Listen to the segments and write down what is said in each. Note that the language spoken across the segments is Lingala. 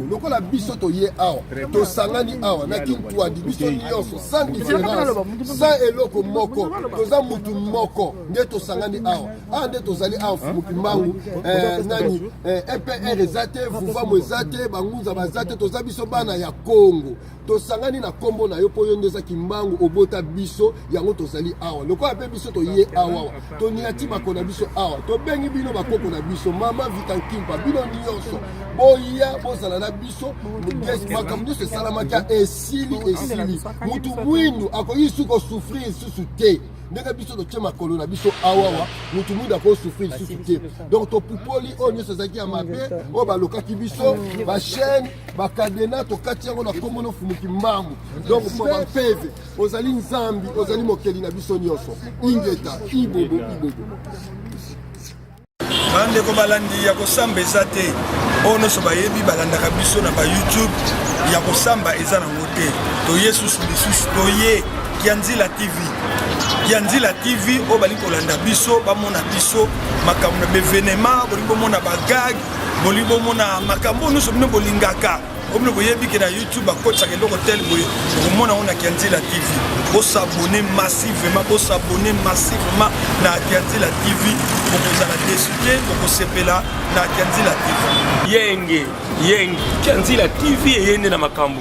lokola biso toye awa tosangani awa na kintuadi biso nyonso sans différence sans eloko moko toza mutu moko nde tosangani awa awa nde tozali awa fumuki mbangu eh, nani epr eh, eza te vuvamu eza te bangunza baza te toza biso bana ya kongo tosangani na nkombo na yo mpo yo nde oza kimbangu obota biso yango tozali awa lokola mpe biso toye awawa toniati bako na biso awa tobengi bino bakoko na biso mama vitankimpa bino nyonso boya bozala na biso makambo nyonso esalamaki esili esili motu mwindu akoki su kosufrir lisusu te ndenge biso totye makolo na biso awawa motu mwindu akosufrir lisusu te donc topupoli oyo nyonso ezalaki ya mabe oyo balokaki biso bachaine bakadena tokati yango na nkombo na ofumuki mbangu donc mpeve ozali nzambi ozali mokeli na biso nyonso ingeta ibobo ibobo bandeko balandi ya kosamba eza te oyo nyonso bayebi balandaka biso na bayoutube ya kosamba eza nango te toye susu lisusu toye kianzila tv ya nzila tv oyo balingi kolanda biso bamona biso makambo na bevenema bolingi bomona bagage boli bomona makambo oyo nyonso bino bolingaka oyo bino boyebi ke na youtube bakotisaka eloko tel boye okomona yango na kianzela tv bosabone massivement bosabone massivement na kianzela tv bokozala desu te bokosepela na kianzela tv yenge yenge kianzela tv eye nde na makambo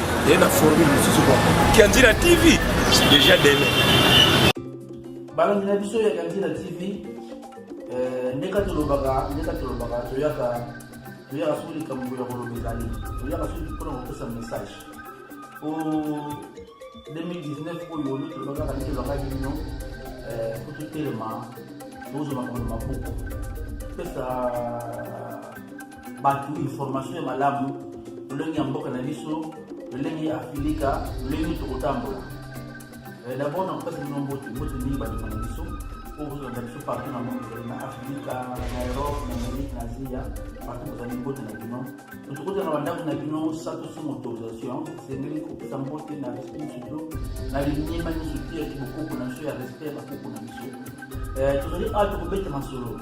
ye na formule mosusu kwa kianzila tv deja dele balandi na biso ya kianzila tv eh, ndeka tolobaka ndeka tolobaka toyaka toyaka soki likambo ya koloba ezali toyaka soki mpona kopesa message po 2019 oyo olu tolobaka kani tolobakaki bino eh, po totelema tozwa makambo mabuku pesa bato information ya malamu lolenge ya mboka na biso lolenge ya afilika lolenge tokotambola eh, dabord na kopesa bino mbote mbote mingi bandeko na biso oyo bozolanda biso partout na monde na afrika na europe na amerike na asia partout bozali mbote na bino tokota na bandako na bino sato somo autorisation esengeli kopesa mbote na respect nyonso bino na liniema nyonso te ya kibokoko na biso ya respect ya bakoko na biso eh, tozali awa tokobeta masolo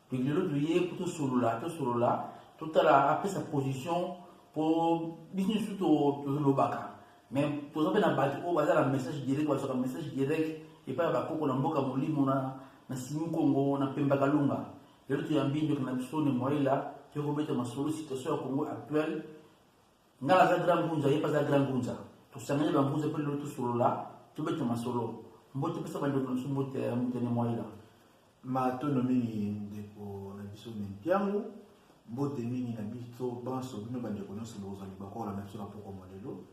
lelo toye po tosolola tosolola totala apesa position po biso nyonso tolobaka mais toza mpe na bato oyo baza na message direct bazwaka message direct epai ya bakoko na mboka molimo na na simi kongo na pemba kalunga lelo toyambi ndeko na biso ne moyela toye kobeta masolo situation ya congo actuelle ngai naza grand ngunza ye mpe aza grand ngunza tosangani bangunza mpe lelo tosolola tobeta masolo mbote mpesa bandeko na biso mbote ya motene moyela Matondo mingi ndeko na biso Mempiangu, mbote mingi na biso banso bino bandeko nyonso bokozwa libaku kolanda biso na poko molelo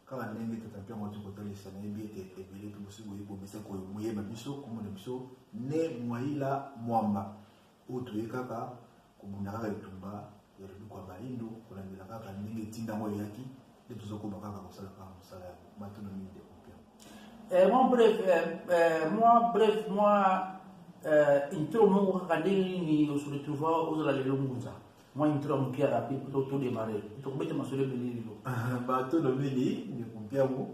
kaka ndenge tata Mpiangu ati kotalisa nayebi ete ebele mpe bosi boyebi bomesa koyeba biso komona biso ne mwaila mwamba oyo toye kaka kobunda kaka etumba ya liduku ya baindo kolandela kaka ndenge etinda yango eyaki nde tozokoma kaka kosala kaka mosala ya matuna mingi de kopia eh, mwa bref eh, eh, mwa bref mwa intro moko kaka ndenge nini osoretrouva ozala lelo ngunza mwa intro ya mokia rapide mpo todemare tokobeta masolo ebele lelo ah, bato lobeli ndeko mpiango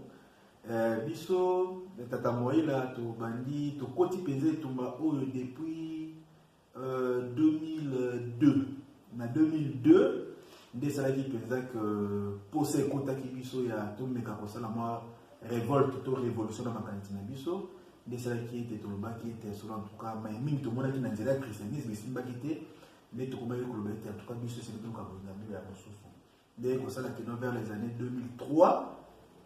biso tata moyela tobandi tokoti mpenza etumba oyo depuis 2002 na 2002 nde esalaki mpenza ke mposa ekotaki biso ya tomeka kosala mwa revolte to révolution na makanisi na biso nde esalaki ete tolobaki ete solo antuka mai mingi tomonaki na nzela ya christianisme esimbaki te nde tokomaki koloba ete antuka biso esili toluka bolinga mbila ya mosusu ndenge kosala kino vers les années 2003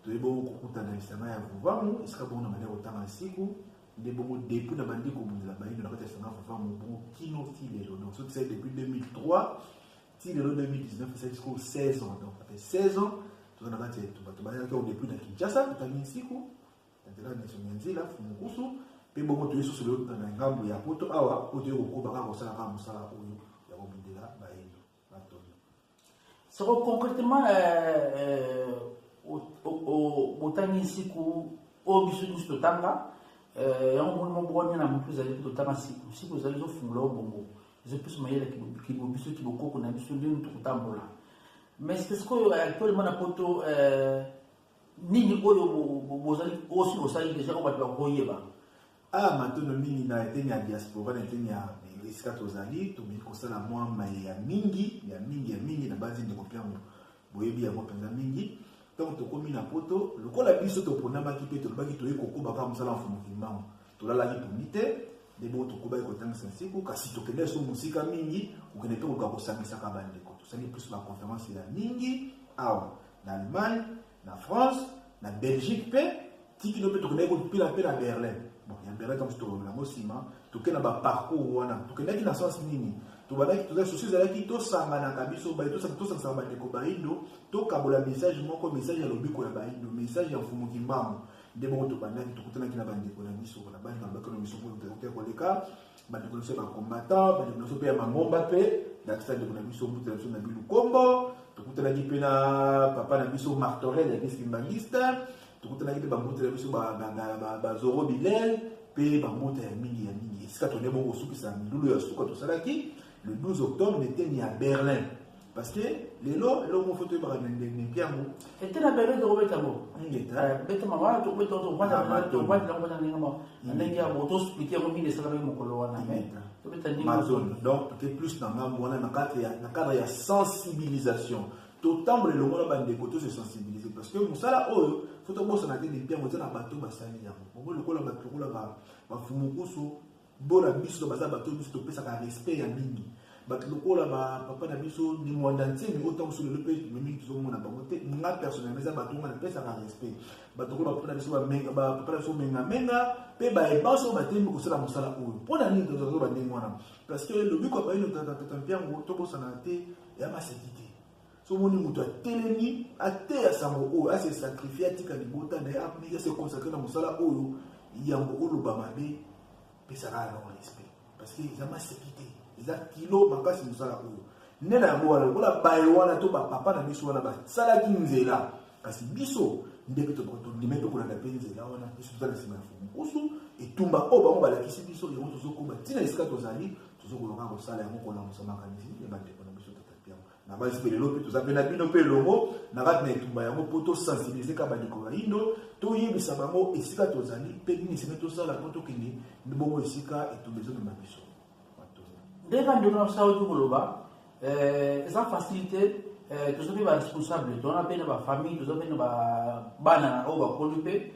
toye bongo kokutana lisanga ya vuvamu esika bongo na banda kotanga siku nde bongo depuis na bandi kobundela bayindo na kati ya lisanga ya vuvamu bongo kino ti lelo donc soki tisali depuis 2003 ti lelo 2019 esali sikoyo 16 ans donc après 16 ans toza na kati ya etumba tobayaki yango depuis na kinshasa totangi nsiku na nzela ya miso mya nzela fumukusu mpe bongo toye susu lelo na ngambo ya poto awa oyo toye kokoba kaka kosala kaka mosala oyo soko concrètement botangisi ku oyo biso nyonso totanga yango moni moko bwanya na motu ezali mpe totanga siku siku ezali ezofungola yo bongo ezopesa mayele kibo biso kibokoko na biso ndeni tokotambola mais sike sikoyo actuellement na poto nini oyo bozali osi bosali deja oyo bato bakoyeba Ah, matono mingi na eteni ya diaspora, na eteni ya esika tozali, tokoki kosala mwa maye ya mingi, ya mingi, ya mingi, na banzi ndeko Piango, boyebi yango mpenza mingi. Donc tokomi na poto, lokola biso toponamaki mpe tolobaki toyei kokoba kaka mosala ya mfumu kimbangu, tolalaki pongi te, nde bongo tokobaki kotangisa nsiku, kasi tokendaki so mosika mingi, kokende mpe koka kosangisaka bandeko. Tosali plus baconference ya mingi awa na Allemagne, na France na belgique mpe tikino mpe tokendaki kotupela mpe na berlin bon ya berlin ntango tolobela yango nsima toke na baparcours wana tokendaki na sens nini tobandaki tozali sosi ezalaki tosanganaka biso baye tosangisa bandeko baindo tokabola message moko message ya lobiko ya baindo message ya mfumu kimbangu nde bongo tobandaki tokutanaki na bandeko na biso na bani babakelo biso mpo koleka bandeko na biso ya bacombatant bandeko na biso mpe ya mangomba mpe ndakisa ndeko na biso mbuta na biso na bilukombo tokutanaki mpe na papa na biso martorel ya eglise kimbanguiste tokutanaki mpe bambuta na biso bazoro bilel mpe bambuta ya mingi ya mingi esika tone bokosukisa milulu ya suka tosalaki le 12 octobre na eteni ya berlin parce que lelo eloko moko foto oyebaka ndenge yango ete na berlin tokobeta bo beta mama tokobeta tokobata nango na ndenge moko na ndenge ya bo tosplike yango mingi esalaka mokolo wana tobeta ndenge donc te plus na ngambo wana na cadre ya sensibilisation totambola elongo na bandeko to se sensibiliser parce que mosala oyo fo tobosana te dempi yango eza na bato basali yango bongo lokola bato lokola bafumukusu Bo na biso baza bato biso topesaka respect ya mingi bato lokola ba papa na biso ni mwanda nsemi oyo ntango mosusu lelo mpe mingi tozomona bango te nga personnellement eza bato nga napesaka respect bato lokola bapapa na biso bapapa na biso mengamenga mpe baye banso oyo batelemi kosala mosala oyo mpo na nini tozazoba ndenge wana parce que lobiko ya bayino tata mpiango tobosana te ya maseki te soki omoni moto atelemi ateya sango oyo ase sacrifie atika libota na ye apiki ase consacre na mosala oyo yambo oloba mabe pesaka ya non respect parce que eza maseki te eza kilo makasi mosala oyo nde na yango wana lokola baye wana to bapapa na biso wana basalaki nzela kasi biso nde mpe tondimi tokolanda mpe nzela wana biso toza na nsima ya fomukusu etumba oyo bango balakisi biso yango tozokoba ntina esika tozali tozokoloka kosala yango kolamusa makanisi ya bandeko na basi mpe lelo mpe toza mpe na bino mpe elongo na kati na etumba yango mpo tosensibilize ka bandeko bayindo toyebisa bango esika tozali mpe nini esenge tosala mpo tokende bongo esika etumba ezomema biso nde bandeko na biso auti koloba eh, eza facilité eh, toza mpe baresponsable tona mpe na bafamille toza mpe na bana oyo bakoli mpe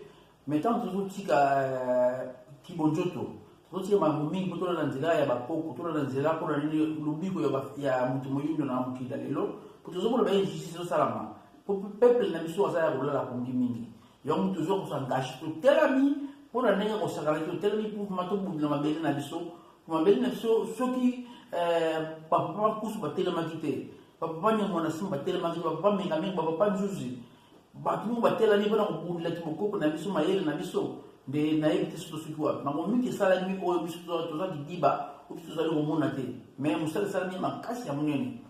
mais ntango tozotika euh, kibonjoto tozotika makambo mingi mpo tolanda nzela ya bakoko tolanda nzela mpo na nini lobiko ya moto moyindo na mokili ya lelo mpo tozomona ba injustice ezosalama mpo peuple na biso aza ya kolala pongi mingi yango moto ozwa kosangashi totelami mpo na ndenge kosakana te totelami mpoma tobundela mabele na biso mpo mabele na biso soki euh, bapapa bakusu batelemaki te bapapa nyongo na nsima batelemaki te bapapa mengamengo bapapa nzuzi bato moko batelani mpona kobundela kimokoko na biso mayele na biso nde nayebi te soki soki wapi makambo mingi esalami oyo biso toza kidiba oyo tozali komona te mais mosala esalami makasi ya monene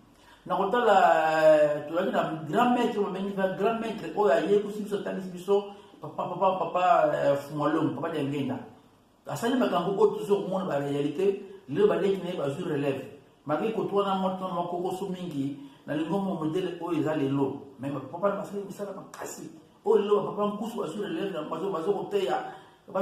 na kotala eh, tozalaki na grand maître babengi na grand maître oyo ayebisi biso atangisi biso papa papa papa eh, fumalongo papa diangenda asali makambo oyo tozo komona ba réalité lelo baleki na ye bazwi relève malgré koto wana moto na makokoso mingi na lingombo modele oyo eza lelo me bapapa na basali misala makasi oyo lelo bapapa nkusu bazwi relève na bazo bazo koteya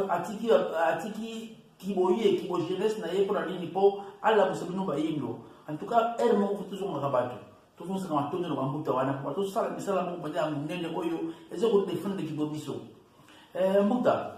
atiki atiki kiboye kibo jeunesse na ye mpo na nini mpo alamusa bino bayindo en tout cas heure moko tozongaka bato tozongisa na matondo na bambuta wana mpo tozosala misala moko mpenza ya monene oyo eza kodefendre kibo biso eh, mbuta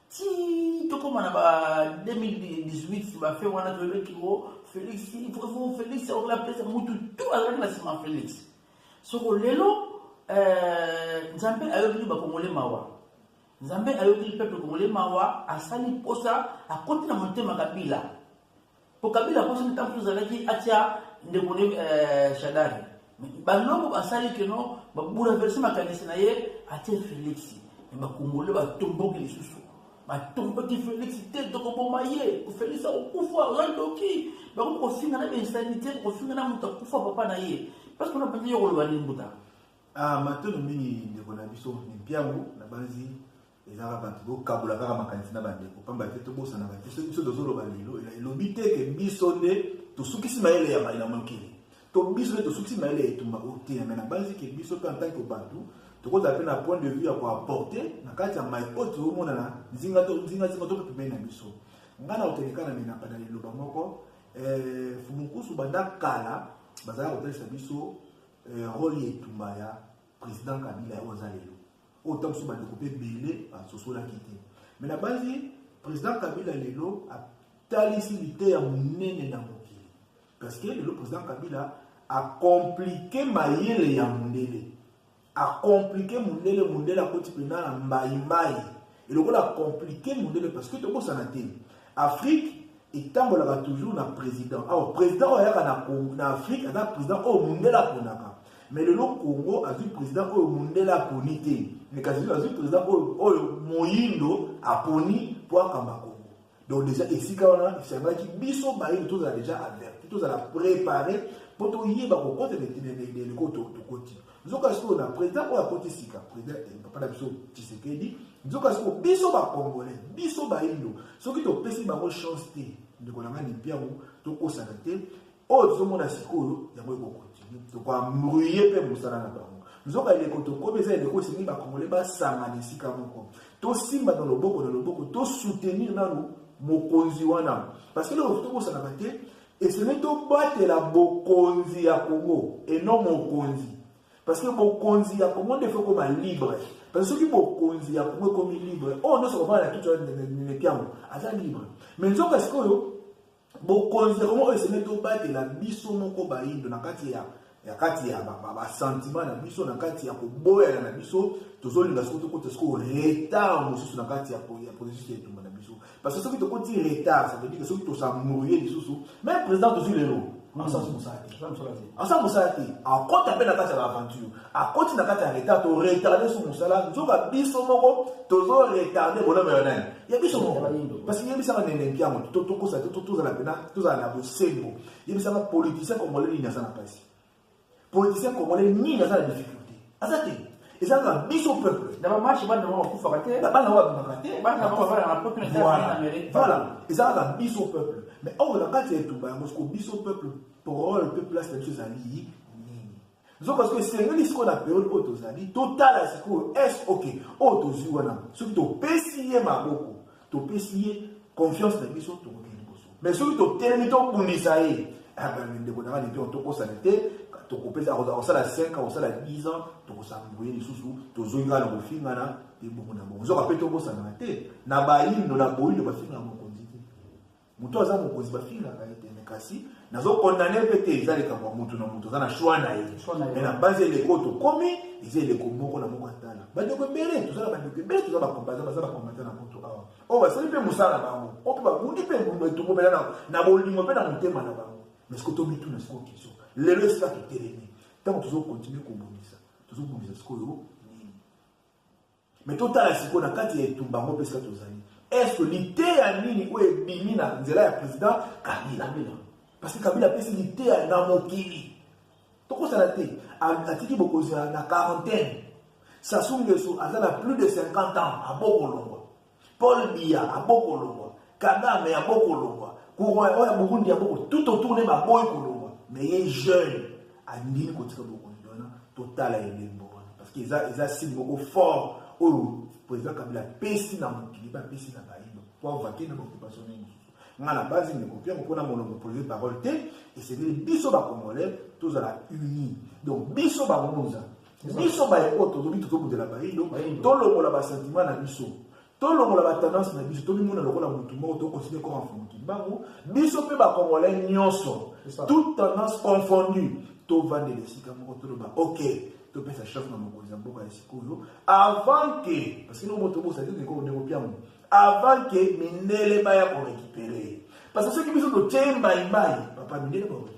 ti tokoma na ba 2018 bafe wana toyebeki o oh, felix faut felix akoki apesa mutu tu azalaki na nsima felix soko lelo euh, nzambe ayokeli bakongole mawa nzambe ayokeli peuple kongole mawa asali mposa akoti na motema kabila po kabila poso ntango mosusu azalaki atya ndeko ne eh, shadari banoko basali keno babouleverse makanisi na ye atye felix me bakongole batomboki lisusu batomboki felix te tokoboma ye felix akokufa oza ndoki bakomi kofinga na bainsanité kofinga na moto akufa papa na ye parce que napanzi yo koloba nini mbuta ah, matono mingi ndeko na biso mpiango na banzi ezalaka bato bokabola kaka makanisi na bandeko mpamba te tobosanaka te soki biso tozoloba lelo elobi te ke biso nde tosukisi mayele ya mai na mokili to biso nde tosukisi mayele ya etumba oteya mai nabanzi ke biso mpe antanke bato tokozala mpe na point de vue ya koaporte na kati ya mai oyo tozomona na nzinga to nzingazinga to mpe pembeni na biso ngai na koteleka na menapa na liloba moko eh, fumukusu banda kala bazalaka kotalisa biso eh, role ya etumba ya President Kabila ya oza lelo. Oyo ntango mosusu bandeko mpe ebele basosolaki te. Me nabanzi President Kabila lelo atalisi liteya monene na mokili. Parce que lelo President Kabila akomplike mayele ya mondele. Akomplike mondele, mondele akoti mpenza na mbaimbai. eloko na compliquer mundele parce que tobosana te afrique etambolaka toujours na président alors président oyo ayaka na, na afrique aza président oyo mundele aponaka mais lelo congo azwi président oyo mundele aponi te mais kasi azwi président oyo, oyo moyindo aponi mpo akamba congo donc deja esika wana esengaki biso bayini tozala deja averti tozala prépare mpo toyeba kokota eleko tokoti nzoka sikoyo na président oyo akoti sika président eh, papa na biso tshisekedi nzoka sikoyo biso bacongolais biso bayindo soki topesi bango chance te ndeko na ngai lipiango tokosana te oyo tozomona sikoyo yango ekokontinue tokoambruye mpe mosala na bango nzoka eleko tokomi eza eleko esengi bakongole basangana esika moko tosimba na loboko na loboko tosoutenir nanu mokonzi wana parce que lelo tokosanaka te esengeli tobatela bokonzi ya kongo eno mokonzi parce que bokonzi ya kongo nde ekoma libre parce que soki bokonzi ya kongo ekomi libre oyo nyonso kobana na kitu na nepiango aza libre mais nzoka sikoyo bokonzi ya kongo oyo esengeli tobatela biso moko bayindo na kati ya ya kati ya basentima na biso na kati ya koboyana na biso tozolinga soki tokota sikoyo retard mosusu na kati ya processus ya etumba na biso parce que soki tokoti retard ça veut dire soki tosamouye lisusu meme président tozwi lelo asala mosala te asala mosala te akota mpe na kati ya baaventure akoti na kati ya retard toretarde so mosala nzoka biso moko tozoretarde bonome ya nani ya biso moko parce que yebisaka nene mpiango to tokosa te to tozala mpena tozala na bosembo yebisaka politicien congolais nini aza na mpasi politicien congolais nini aza na difficulté aza te eza na biso peuple na bamarche bana bango bakufaka te bana bango babimaka te bana bango bafala na poto voilà eza na biso peuple mais oyo na kati ya etumba yango siko biso peuple parole mpe place na biso ezali nzoka soki esengeli sikoyo na periode oyo tozali totala sikoyo es ok oyo tozwi wana soki topesi ye maboko topesi ye confiance na biso tokoki liboso mais soki totelemi tobundisa ye ah, ndeko na ngai lito tokosana te tokopesa akosala 5 akosala 10 ans tokosala boye lisusu tozongi kaka na kofingana ebongo na bongo nzoka mpe tobosanaka te na bayindo na boyindo bafingana mokonzi te Mutu aza mokonzi bafingaka ye te, mais kasi nazo condamner mpe te, eza likambo ya mutu na mutu aza na choix na ye, mais na base eleko tokomi eza eleko moko na moko atala bandeko ebele toza na bandeko ebele toza bakombaza baza bakombata na poto awa oyo basali mpe mosala na bango oyo mpe babundi mpe mbumba etumbo mpena na na bolingo mpe na motema na bango mais siko tomituna siko kiso lelo esika totelemi ntango tozokontinue kobundisa tozobundisa sikoyo Mais totala sikoyo na kati ya etumba yango mpe sika tozali eske liteya nini oyo ebimi na nzela ya président kabila parce que kabila apesi liteya na mokili tokosala te atiki bokonzi na quarantaine sasungesu aza na plus de 50 ans abokolongwa Paul Biya abokolongwa, Kagame abokolongwa, courant oyo ya Burundi aboko tout autour ne baboyi kolongwa, mais ye jeune andimi kotika bokonzi wana totala elembo wana parce que eza eza signe moko fort oyo président Kabila apesi na mokili ba apesi na bayindo po avake na occupation nini nga na base ndeko mpe yango mpona molongo polise parole te esengeli biso bacongolais tozala unis donc biso bangunza biso baye oyo tolobi tozobundela bayindo tolongola basentima na biso tolongola batendance na biso tomimona lokola motu moko tokontinue koma mfumu kimbangu biso mpe bakongolai nyonso toute tendance confondue tovandela esika moko toloba ok topesa chef na mokonzi ya mboka ya sikoyo avant ke parce que no moto bosaki ndeko ndeko piango avant ke mindele baya korekipere parce que soki biso totie mbaimbai papa mindele bakoki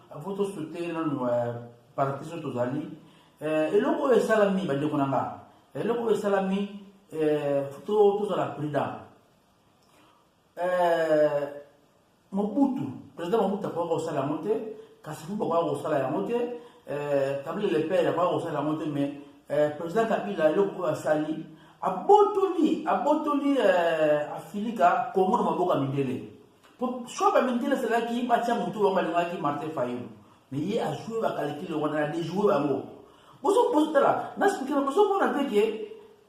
Faut to soutenir nanu euh, parti so tozali euh, eloko oyo esalami bandeko na nga eloko oyo esalami euh, tozala prudent mobutu président mobutu akoka kosala yango te kasi fu bakoka kosala yango te kabila lepere akoka kosala yango te mais président kabila eloko oyo asali abotoli abotoli afilika kongo na maboko ya mindele Soit ba mindele salaki ba tia mutu wa balingaki Martin Fayulu. Mais ye a joué ba calcul wa na déjouer bango. Bozo bozo tala, na speaker bozo mona te ke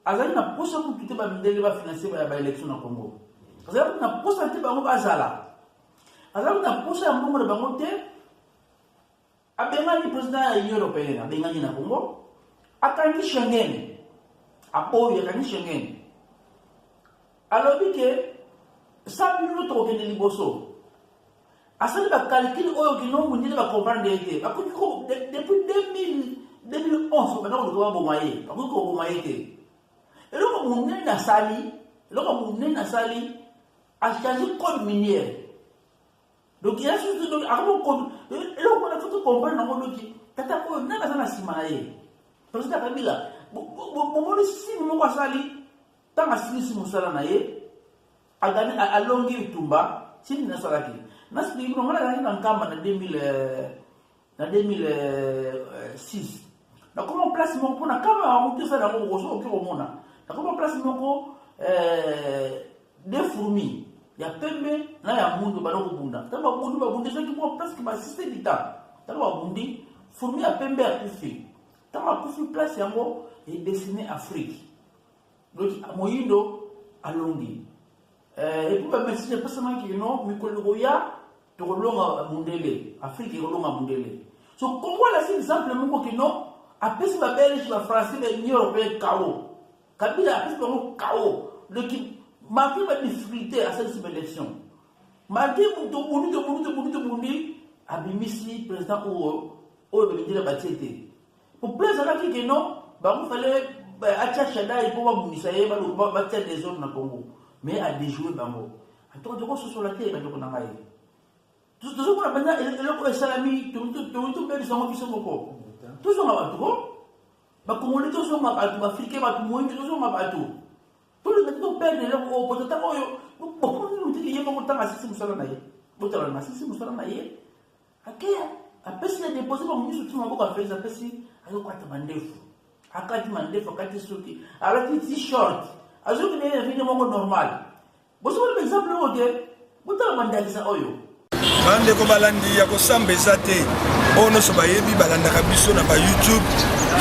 azali na posa kutu te ba mindele ba financer ba ba élection na Congo. Azali na posa te bango bazala. Azali na posa ya mbongo na bango te. Abengani president ya Union européenne, abengani na Congo, akangi Schengen, aboyi akangi Schengen, alobi ke sa bino tokokende liboso asali bakalkile oyo kino mondele bakomprendre ye te bakoki depuis 2011 banda koluka baboma ye bakoki koboma ye te eloko monene asali eloko monene asali achange code miniere donc ya susu donc akomo eloko wana faut tocomprendre nango noki tata oyo nani aza na nsima na ye président kabila bomoni sini moko asali ntango asilisi mosala na ye agani alongi bitumba sini nasalaki nasiki bino ngai nazalaki na nkamba na 2000 na 2006 nakoma place moko mpona kama motu osala yango okoki okoki komona nakoma place moko eh, de fourmi ya pembe na ya mundu bana kobunda ntango babundi babundisaki mwa presque basiste lita ntango babundi fourmi ya pembe akufi ntango akufi place yango edesine afrique Doki moyindo alongi eh, epuis bamesage epesamaki kino mikolo koya tokolonga mundele afrike ekolonga mundele so kongo alasi exemple moko kino apesi babelge bafrançais baunion européen kao kabila apesi bango kao doki malgré badifficulté asalisi baélection malgré tobundi tobundi tobundi tobundi abimisi président oyo oyo babindela batie te Pourquoi ezalaki que non bango fallait euh, atia Shaddai mpo babundisa ye batia desordre na Congo mais a déjouer bango antoka tokososola te bandeko na ngai tozomona mpenza eloko esalami tobebisa yango biso moko tozonga bato ko bakongoli tozonga bato baafrike bato moyingi tozonga bato tolinga te toperdre eloko oyo po tata oyo bokomoni motiki ye moko ntango asisi mosala na ye botalana asisi mosala na ye Ake apesi na depose bango nyonso ti maboko apesi apesi azokwata mandefu akati mandefu akati suki alati ti short azoki na ye na video moko normal bosomoni baexemple yango te botala bandakisa oyo bandeko balandi ya kosamba eza te oyo nyonso bayebi balandaka biso na bayoutube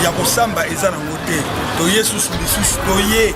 ya kosamba eza nango te toye susu lisusu toye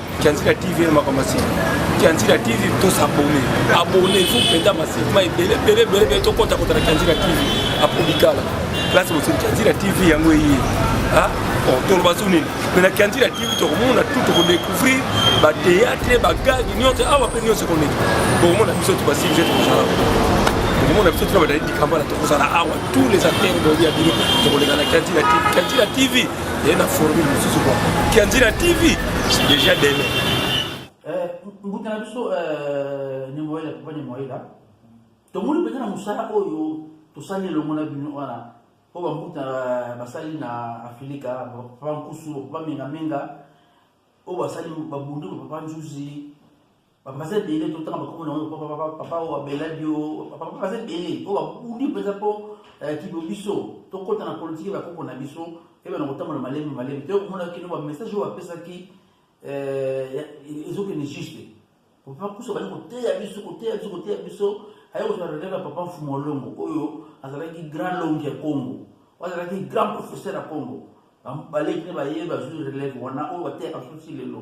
Kianzika TV na makambo asili Kianzika TV to s'abonner abonner vous penda masili ma ebele ebele ebele ebele to kota kota na Kianzika TV apobikala place bosili Kianzika TV yango eye ah bon toloba so nini mais na Kianzika TV tokomona tout tokodécouvrir batéâtre bagage nyonso awa mpe nyonso ekoleki bokomona biso to basili je tokozala komona biso tuna badali dikambala tokozala awa tous les acteurs bolia bino tokoleka na Kianzika TV Kianzika TV ye na formule mosusu kwa kianzi na tv déjà dele eh, mbuta na biso eh, nemoyela papa nemoyela tomoni mpenza na mosala oyo tosali elongo na bino wana mpo bambuta eh, basali na afilika papa nkusu papa mengamenga oyo basali babundi papa nzuzi Papa baza ebele totanga bakombo na yango papa papa papa oyo abeladi yo papa papa baza ebele oyo babundi mpenza mpo eh, kibo biso tokɔta na politiki ya bakoko na biso ebe na kotambola malembe malembe te okomona kino bamessage oyo bapesaki eh, ezokende juste papa kusa bali koteya biso koteya biso koteya biso aye kozala relève ya papa mfumu olongo oyo azalaki grand longi ya congo oyo azalaki grand professeur ya congo baleki ne baye bazwi relève wana oyo bateyaka biso ti lelo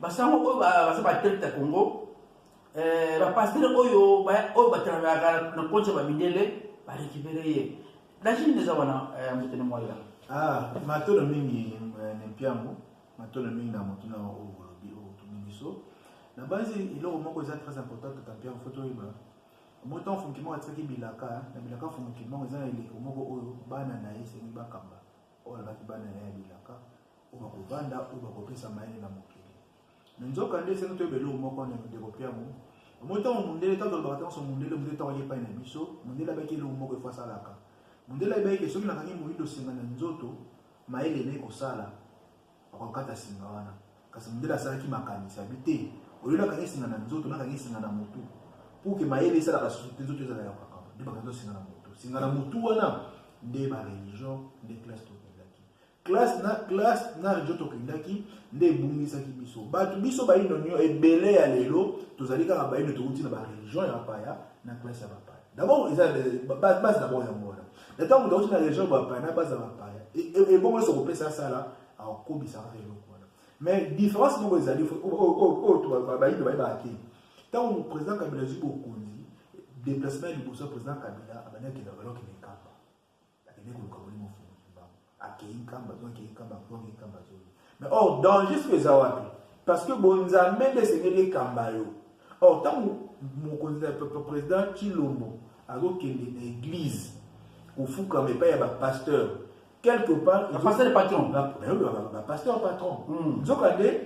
basango oyo baza batekte ya congo eh, bapastere oyo oyo batalaka na konti ya bamindele barekipere ye lachine eza wana eh, motene moya ah, matolo mingi eh, nempiango matolo mingi na motuna oyo olobi oyo otuni biso na basi eloko moko eza très important tata mpiango fo toyeba moto afunki moko atikaki bilaka na bilaka afunki moko eza na eleko moko oyo bana na ye esengi bakamba oyo alobaki bana na ye ya bilaka oyo bakovanda oyo bakopesa mayele na mokili me nzokande esenge toyeba eloko moko na ndeko piango omoi ntango mondele ntango tolobaka ntango mondele mondele ntango aye epai na biso mondele abaki eloko moko efo asalaka mondele ayebaki ke soki nakangi moyindo senga na nzoto mayele naye kosala akokata singa wana kasi mondele asalaki makanisi abi te oyo nakangi singa na nzoto nakangi singa na motu pour ke mayele esalaka susu te nzoto ezala ya kokakama nde bakangi singa na motu singa na motu wana nde bareligion nde classe classe na classe na regio tokendaki nde ebungisaki biso bato biso baino nio ebele ya lelo tozali kaka baino touti na bareligion ya bapaya na classe ya bapaya dabord eza base dabord yango wana na ntango moto auti na religion ya bapaya na base ya bapaya ebongo nyonso kopesa asala akobisaka eloko wana mais différence moko ezali oyo bayindo baye baake ntango président kabila azwi bokonzi déplacement ya liboso ya président kabila abandi akenda valokende nkamba Akende koluka molimo fulu kimbangu. Akeyi nkamba to akeyi nkamba to akeyi nkamba to. Mais or oh, danger soki eza wapi? Parce que bonzambe nde esengeli ekamba yo. Or oh, ntango mokonzi ya président Tshilombo azokende na église kofukama epai ya bapasteur quelque part bapasteur patron bapasteur patron hmm. nzokande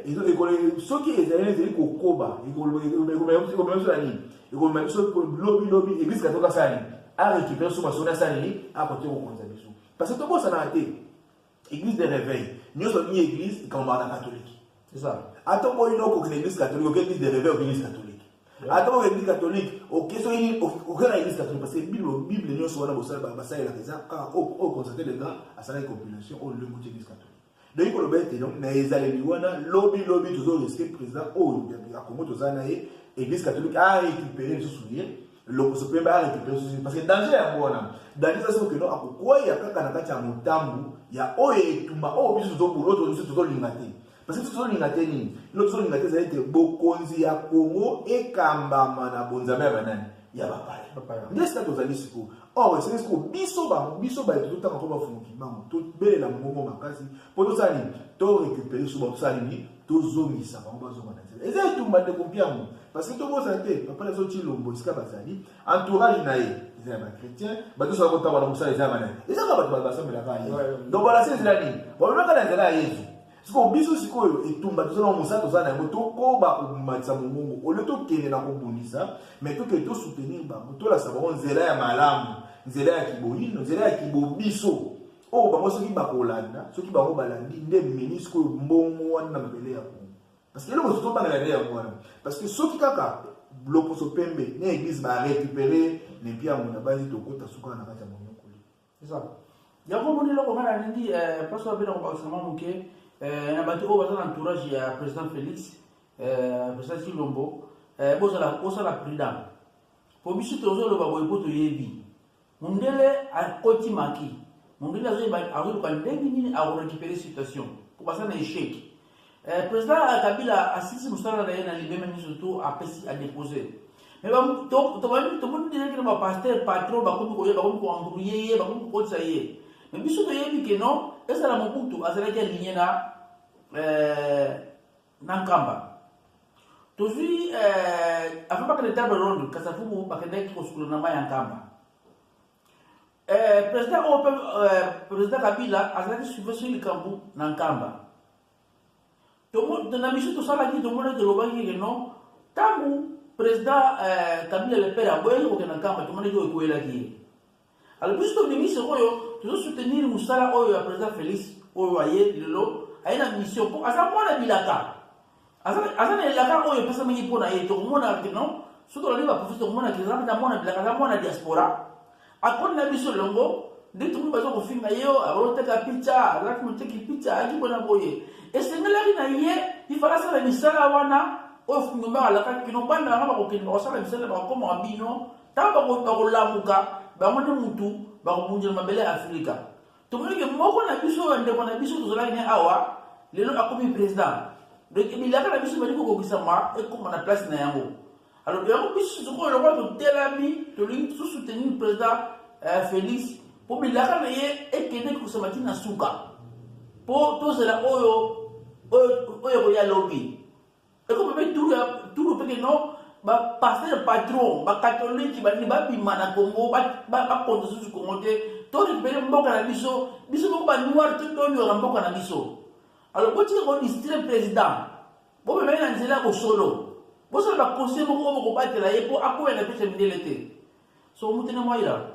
soki ezali ezali kokoba ekomema biso na nini ekomema biso lobi lobi eglise katoka sali a récupérer sous masoni asali a côté kokonza biso parce que tobosanaka te église de réveil nyonso ni église ekamamaka na katolike ata oboyi na okokina église katolike oke église de réveil oke église katolike ata oke église katolike oke soki oke na église katolike parce que bible bible nyonso wana bosalelaka basalelaka eza kaka oyo constate le grand asalaki compilation oyo lengoti église katolike Ndoki koloba ete donc na ezaleli wana lobi lobi tozo risque président oyo ya Congo toza na ye église catholique a récupérer lisusu ye lokoso mpe ba récupérer lisusu parce que danger yango wana danger eza soki no akokwea kaka na kati ya motambu ya oyo etumba oyo biso tozobolo tozo tozolinga te parce que tozolinga te nini ino tozolinga te ezali ete bokonzi ya Congo ekambama na bonzambe ya banani ya bapaya nde sika tozali sikoyo or esengeli soko biso bango biso baye tozotanga mpo bafumuki bango tobelela mbongo makasi mpo tosala nini to récupere so basala nini tozongisa bango bazonga na nzela eza etumba ndeko mpiango parce que tobosana te papa na zoti lombo esika bazali entourage na ye eza ya bachrétien bato sola kotambola mosala eza ya banani ezaka bato basambelaka ya yesu donc balasi nzela nini bamemaka na nzela ya yesu sikoyo biso sikoyo etumba toza na mosala toza na yango tokoba komatisa mongongo olio tokende na kobundisa me tokende tosoutenir bango tolakisa bango nzela ya malamu nzela ya kiboyino nzela ya kibobiso oyo oh, bango soki bakolanda soki bango balandi nde mini sikoyo mbongo wana na mabele ya kongo parce que eloko soki tobangela nde yango wana parce que soki kaka loposo pembe na eglise barecupere nempiango na banzi tokota suka na kati ya eza yango moni eloko nga nalingi eh, place oyo abenda kobakisa mwa moke eh, na bato oyo baza na entourage ya président félix eh, président chilombo bozala bosala prudent po biso tozoloba boye po toyebi mondele akoti maki mondele azoyeba azoluka ndenge nini akorekipere situation po baza na échec Eh, president Kabila asilisi mosala na ye na libeme miso to apesi adepose mais tomoni déjà kino bapaster patron bakomi koye bakomi koembrouye ye bakomi kokotisa ye mais biso toyebi ke non ezala mobutu azalaki aligne na eh, na nkamba tozwi eh, avant bakende table ronde kasafubu bakendaki kosukula na mai ya nkamba Eh, president oyo mpe eh, president kabila azalaki suive soki likambo na nkamba na biso tosalaki tomonaki tolobaki ke non ntango president eh, kabila lepere aboyaki kokenda nkamba tomonaki oyo ekoyelaki ye alo biso tobimi sikoyo tozosoutenir mosala oyo ya president félix oyo aye lelo aye na mission mpo aza mwana bilaka aza na elaka oyo epesamaki mpo na ye tokomona kino soki tolandi baprofesi tokomona kizambe na mwana bilaka aza mwana diaspora akoni na biso elongo nde tokomi baza kofinga ye oyo aoteka pica azalaki moteki pica ayaki mpona boye esengelaki na ye ifala asala misala wana oyo fungombaka alakaki kino bana yango bakokende bakosala misala bakokoma wa bino ntango bakolamuka bango nde motu bakobundela mabele ya afrika tomoni ke moko na biso ya ndeko na biso tozalaki ne awa lelo akomi president donc bilaka na biso bali kokokisama ekoma na place na yango alors yango biso sikoyo lokola totelami tolingi tosoutenir président euh, félix mpo bilaka na ye ekende kokisama ti na suka mpo tozela oyo oyo ekoya lobi ekomi mpe tulu ya tulu mpe keno bapaster patron bakatoliki balingi babima na congo bakonza susu congo te to récupere mboka na biso biso moko banoir to tonyora mboka na biso alors botika kodistire président bomemai na nzela ya bosolo bosala baconseil moko oyo bokobatela ye mpo akoya na pesa mindele te so mutene mwaila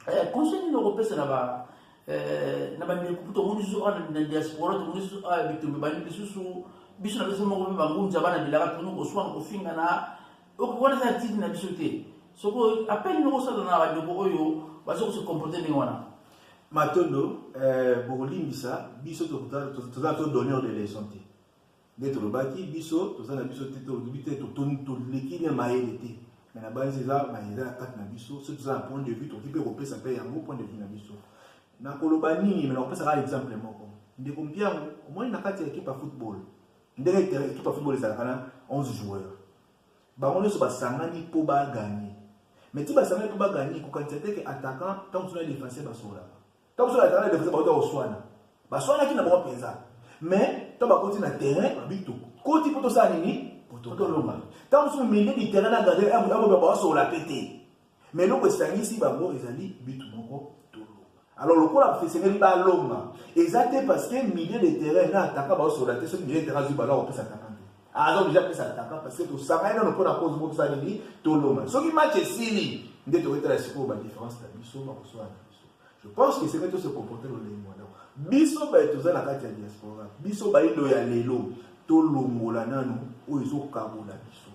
eh, conseil nini okopesa na ba eh, na bandeko kutu omoni lisusu awa na diaspora tomoni lisusu awa bitumbi bani lisusu biso na biso moko mpe bangunza bana bilaka toni koswana kofingana wana eza tidi na biso te soko apele nini okosala na bandeko oyo baza kose comporte ndenge wana matondo eh, bokolimbisa biso toza to donneur de leçon te nde tolobaki biso toza na biso te tolobi te toleki na mayele te me na banzi eza mayele eza na kati na biso soki toza na point de vue tokoki mpe kopesa mpe yango point de vue na biso nakoloba nini me nakopesa kaka exemple moko ndeko mpiango omoni na kati ya ekipe ya football ndenge ekipe ya football ezalaka na 11 joueur bango nyonso basangani mpo baganye me ti basangani mpo baganye kokanisa te ke attaquant ntango mosusu na defenseur basololaka Ntango mosusu batalaki defense bauta koswana, baswanaki na bango mpenza, mais ntango bakoti na terrain babi tokoti mpo tosala nini? Mpo tolonga. Ntango mosusu milieu du terrain na gardien akoba baosolola mpe te, mais eloko esangisi bango ezali bitu moko tolonga. Alors lokola esengeli balonga, eza te parce que milieu de terrain na ataka baosolola te, soki milieu de terrain azwi balo akopesa ataka te aza oblige apesa ataka parce que tosangani nano mpo na cause moko tosala nini tolonga soki match esili nde toyetala sikoyo badifference na biso bakoswana Je pense que c'est que tout se comporter dans les mois. Biso ba toza na kati ya diaspora. Biso ba ilo ya lelo to longola nanu oyo ezo kabola biso.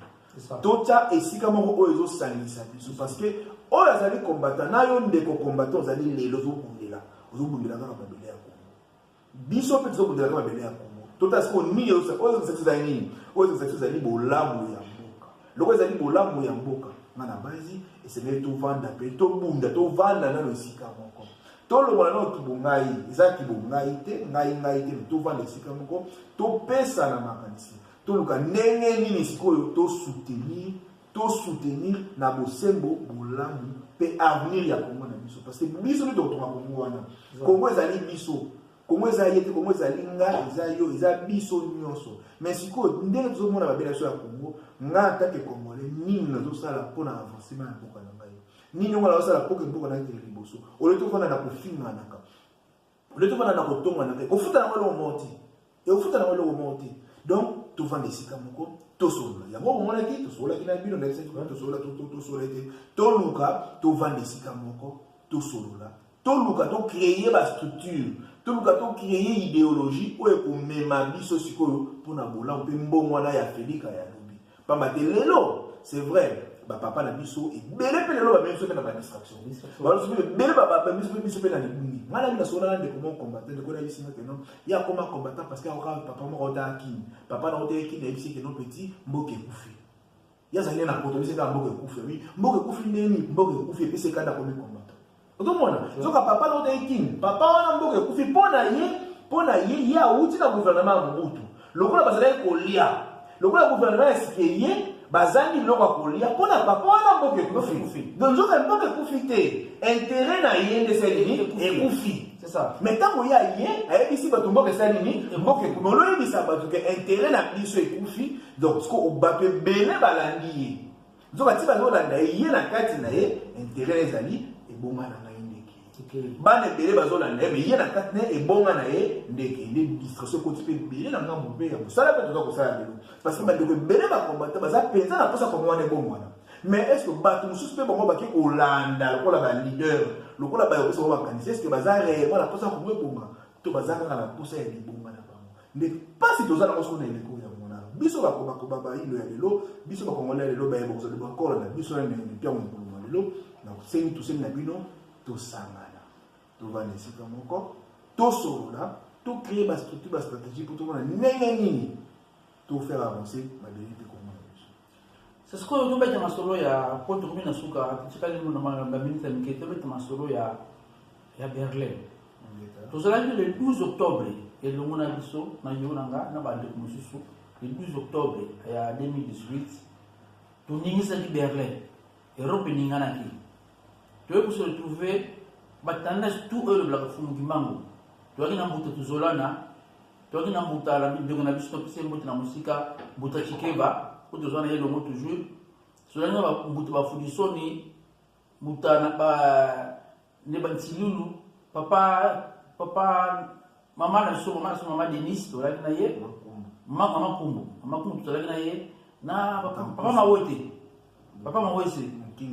Tocha esika moko oyo ezo sangisa biso parce que oyo azali combattant na yo ndeko combattant ozali lelo ozo bundela. Ozo bundela kaka ba biso mpe toza kodelaka mabele ya kongo totala sikoyo nini oyo ezalaki ezali nini oyo ezalaki ezali bolamu ya mboka loko ezali bolamu ya mboka nga na basi esengeli tovanda mpe tobunda tovanda nano esika moko tolongola nano kibongai eza kibongai te ngai ngai te me tovanda esika moko topesana makanisi toluka ndenge nini sikoyo tosoutenir to soutenir na bosembo bolamu mpe avenir ya Congo na biso parce que biso nde tokotonga Congo wana Congo ezali biso Congo eza ye te Congo ezali nga eza yo eza biso nyonso mais sikoyo ndenge tozomona babela biso ya Congo nga atake congolais nini nazosala mpo na avancement ya mboka na ngai nini yango nazosala mpo ke mboka na ngai ekende liboso olio tofanda na kofinganaka oleti wana na kotonga na ekofuta yango eloko moko te ekofuta yango eloko moko te donc tovanda esika moko tosolola yango omonaki tosololaki na bino ndakisaki kuna tosolola tosolola ete toluka tovanda esika moko tosolola toluka tocreye bastructure toluka tocreye ideologie oyo ekomema biso sikoyo mpo na bolamu mpe mbongwana ya felika ya lobi pamba te lelo c'est vrai bapapa na biso ebele mpe lelo bamemi biso mpe na badistraction baloso mpe ebele babemi mpe biso mpe na libungi ngai nabi nasola na ndeko moko combattant ndeko nayebisi nga keno ye akoma combattant parce que akokaa papa moko otaka kini papa na otaka kini ayebisi keno petit mboka ekufi ye azali na poto abisi kaka mboka ekufi abi mboka ekufi ndeni mboka ekufi epesi ekanda komi combattant okomona soka papa na otaki kin papa wana mboka ekufi mpo na ye mpo na ye ye awuti na guvernema ya mobutu lokola bazalaki kolia lokola guvernema ya sike ye bazangi biloko ya kolia mpo na papa wana mboka ekufi don nzoka mboka ekufi te intere na ye nde esali nini ekufi me ntango ye aye ayebisi bato mboka esali nini mboka ekufi me oloyebisa bato ke intere na biso ekufi donc bato ebele balandi ye nzoka ti bazolanda ye ye na kati na ye intere ezali ebonga na ngai ndeke bana ebele bazolanda ye me ye na kati na ye ebonga na ye ndeke nde distraction ekoti mpe ebele na ngambo mpe ya mosala mpe toza kosala lelo parce que bandeko ebele bakombata baza mpenza na mposa kongo wana ebongwana mais est ce que bato mosusu mpe bango bake kolanda lokola baleader lokola bayokosa bango bakanisi est ce que baza réellement na mposa kongo ebonga to baza kaka na mposa ya libonga nde mpasi toza nango soko na eleko ya mona biso bakobakoba bayindo ya lelo biso bakongole ya lelo baye bakozali bakola na biso na mpiango mokolo mwa lelo na kosengi tosengi na bino tosangana tovanda esika moko tosolola tocree bastructure bastratégie mpo tomona ndenge nini tofere avance mabele mpe C'est ce que nous mettons en solo ya pour tout le suka tikali nous demande la ministre qui était mettons en solo ya ya Berlin. Tout cela le 12 octobre et le monde a biso na yonanga na bande mususu le 12 octobre ya 2018 toningisaki Berlin Europe eninganaki toyebi se retrouver batandasi tout oyo elobelaka fumuki mbango toyaki na mbuta tozolana toyaki na mbuta na mibeko na biso topesi ye mbote na mosika mbuta chikeba po tozwa na ye longo toujours tozalaki na mbuta bafudisoni mbuta na ba nde bantilulu papa papa mama na biso mama na biso mama denise tozalaki na ye mama makumbu mama kumbu tozalaki na ye na papa mawote papa mawese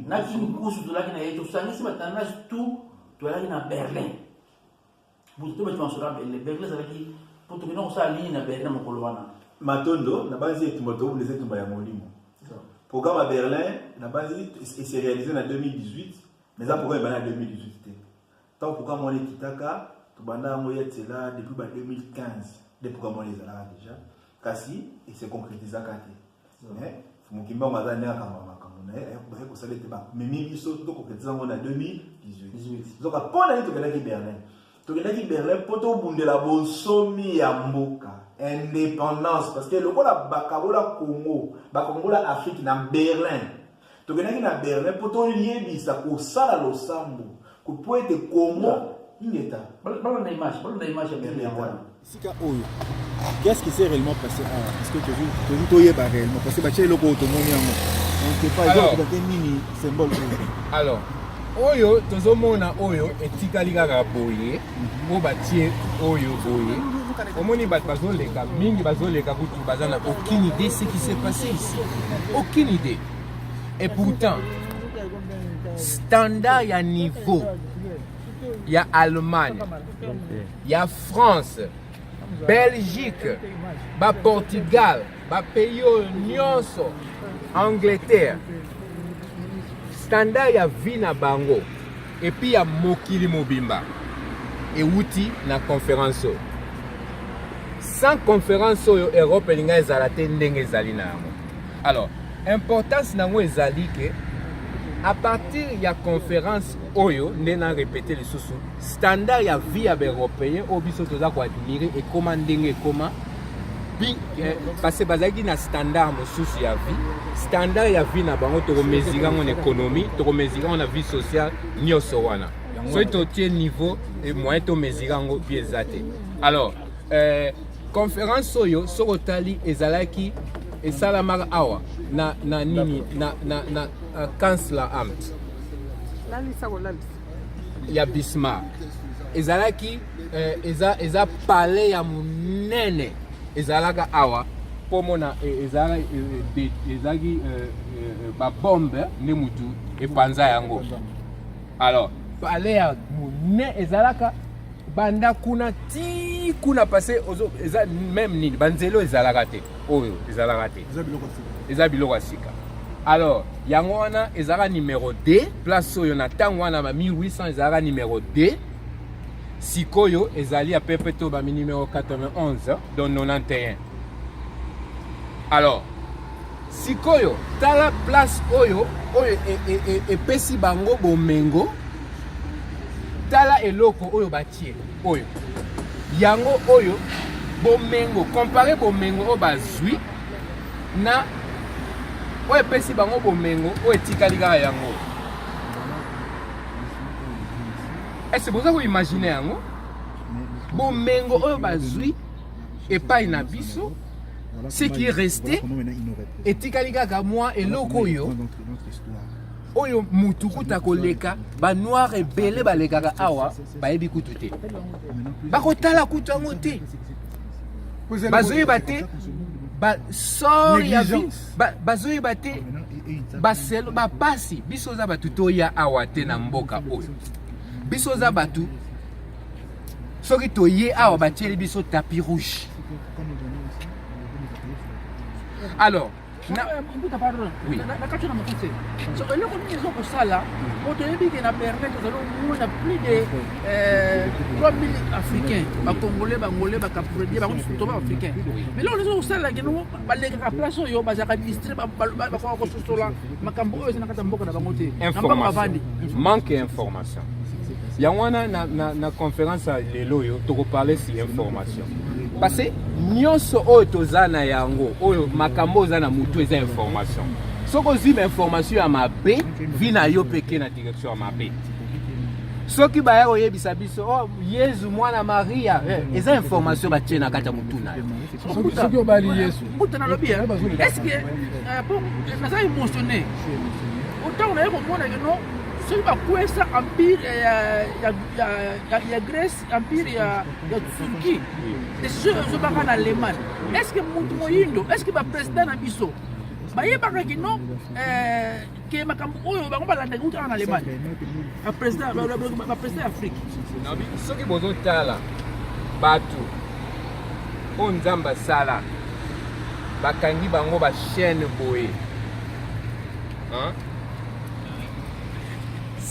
na kinkusu tozalaki na ye tosangisi batana tout tozalaki na berlin butu to betu masolo ya berle berle ezalaki mpo tokenda kosala nini na berlin mokolo wana matondo nabanzi etumba tokobunda eza etumba ya molimo programme ya berlin nabanzi ese réalise na 2018 mais eza programme ebanda na 2018 te ntango programme wana ekitaka tobanda yango ya tsela depuis ba 2015 nde programme wana ezalaka déjà kasi ese concrétisaka te eh, mokimbango aza nde akamba makambo na ye baye kosala ete bamemi biso tokoketisa yango na 2018 zoka mpo na ye tokendaki berlin tokendaki berlin mpo tobundela bonsomi ya mboka indépendance parce que lokola bakabola congo bakongola afrique na berlin tokendaki na berlin mpo toyebisa kosala losambo mpo ete kongo ingeta balona image balona image ya berlin yango wana esika oyo qu'est-ce qui s'est réellement passé awa ah, parce que tozi toyeba réellement parce que batya eloko oyo tomoni yango ontepaezakobate nini symbole oyo alors oyo tozomona oyo etikali kaka boye oyo batie oyo boye omoni bato bazoleka mingi bazoleka kutu baza na aucune idée ce qui s'est passé ici aucune idée et pourtant standard ya niveau ya allemagne ya france Belgique, ba Portugal, ba pays oyo nyonso, Angleterre, standard ya vie na bango epi ya mokili mobimba ewuti na conference oyo. Sans conference oyo Europe elinga ezala te ndenge ezali na yango. Alors, importance na yango ezali ke à partir ya conference oyo nde na repete lisusu standard ya vie ya baeuropéen oyo biso toza koadmire ekoma ndenge ekoma eh, parce bazalaki na standard mosusu ya vie standard ya vie na bango tokomesire yango na économie tokomesire yango na vie sociale nyonso wana soki totie niveau eh, moyen tomesire yango vie eza te alors eh, conférence oyo soki otali ezalaki esalamaka awa na, na nini na, na, na, na kansler amt lalisa kolalisa ya Bismarck ezalaki eh, eza, eza palais ya monene ezalaka awa mpo mona eh, ezalaki eh, eh, ezalaki babombe nde motu epanza yango alors palais ya monene ezalaka banda kuna ti kuna pase eza meme nini banzelo ezalaka te oyo ezalaka te eza biloko ya sika alors yango wana ezalaka numero 2 place oyo na ntango wana ba 1800 ezalaka numero 2 sikoyo ezali ya pepe to bami numero 91 donc 91 alors sikoyo tala place oyo oyo e, e, e, epesi bango bomengo tala eloko oyo batie oyo yango oyo bomengo compare bomengo oyo bazwi na oyo epesi bango bomengo oyo etikali kaka yango ese boza koimagine yango bomengo oyo bazwi epai na biso ce qui reste etikali kaka mwa eloko oyo oyo mutu kuta koleka ba noir ebele balekaka awa bayebi kutu te bakotala kutu yango te bazoyeba te basor ya bazoyeba te baselo bapasi biso oza bato toya awa te na mboka oyo biso oza bato soki toye awa batieli biso tapi rouge alors na mbuta pardon na kati na mokuse so eloko nini ezo kosala po toyebi ke na berlin tozali komona plus de 3000 africain bacongolais bangolais bacapredie bango nyonso toba africain mais loko ezo kosala keno balekaka place oyo bazalaka distre bakoka kososola makambo oyo eza na kati ya mboka na bango te na mbango bavandi manque ya information yango wana na, na, na conference ya lelo oyo tokoparle si information parce nyonso oyo toza na yango oyo makambo oza na motu eza information soki ozwi bainformation ya mabe vi na yo peke na direction ya mabe soki baya koyebisa biso oh, yezu mwana maria eh, eza information batie na kati ya motu na yo soki obali yesu mbuta nalobi eske naza émotionné otango naye komona keno soki bakwesa empire ya, ya, ya, ya, ya grèce empire ya, ya turquie decision ezobaka na allemagne est ce que motu moyindo est ce que baprésident na biso bayebaka kino eh, ke makambo oyo bango balandaki utaka na allemagne baprésident ya afrique soki bozotala bato oyo nzambe asala bakangi bango bachaine boye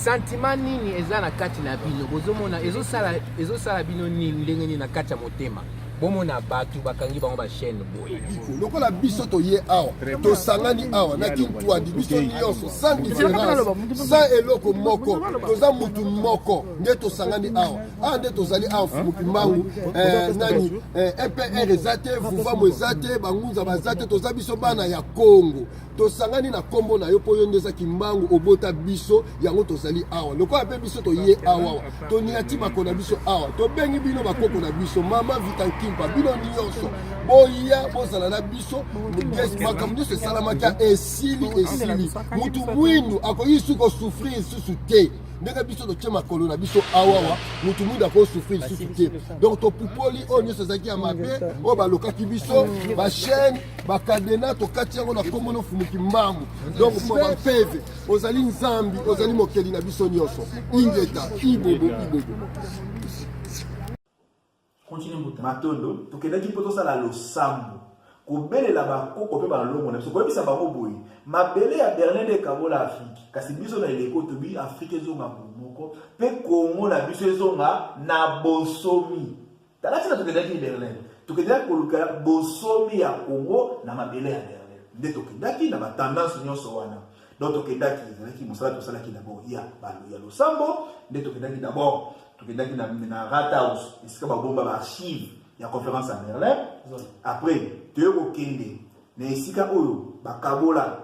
Sentiment nini eza na kati na bino bozomona ezosala ezosala bino nini ndenge nini na kati ya motema bomona bato bakangi bango bachaine boye lokola biso toye awa tosangani awa na kintwadi biso nyonso sans différence sans eloko moko toza mutu moko nde tosangani awa awa nde tozali awa fumuki mbangu eh, nani mpr eh, eza te vuvamu eza te bangunza baza te toza biso bana ya kongo tosangani na kombo na yo mpo yo nde oza kimbangu obota biso yango tozali awa lokola mpe biso toye awawa toniati bako na biso awa tobengi bino bakoko na biso mama vitankimpa bino nyonso boya bozala na biso makambo nyonso esalamaki esili esili motu mwindu akoki suki osufrir lisusu te ndenge biso totye makolo na biso awawa motu mwindu akosufri lisusu te donc topupoli oyo nyonso ezalaki ya mabe oyo balokaki biso bachaine bakadena tokati yango na nkombo na ofumuki mbangu donc mpo bampeve ozali nzambi ozali mokeli na biso nyonso ingeta ibobo ibobo matondo tokendaki mpo tosala losambo kobelela bakoko mpe balongo na biso koyebisa bango boye mabele ya berlin nde ekabola afrike kasi biso na eleko tobi afrike ezonga bomoko mpe kongo na biso ezonga na bosomi Tala ntina tokendaki Berlin. Tokendaki koluka bosomi ya Congo na mabele ya Berlin. Nde tokendaki na batendance nyonso wana. Donc tokendaki, ezalaki mosala tosalaki d'abord ya balo ya losambo, nde tokendaki d'abord, tokendaki na, na Rathaus, esika babomba ba archive ya conférence ya Berlin. Après, toye kokende na esika oyo bakabola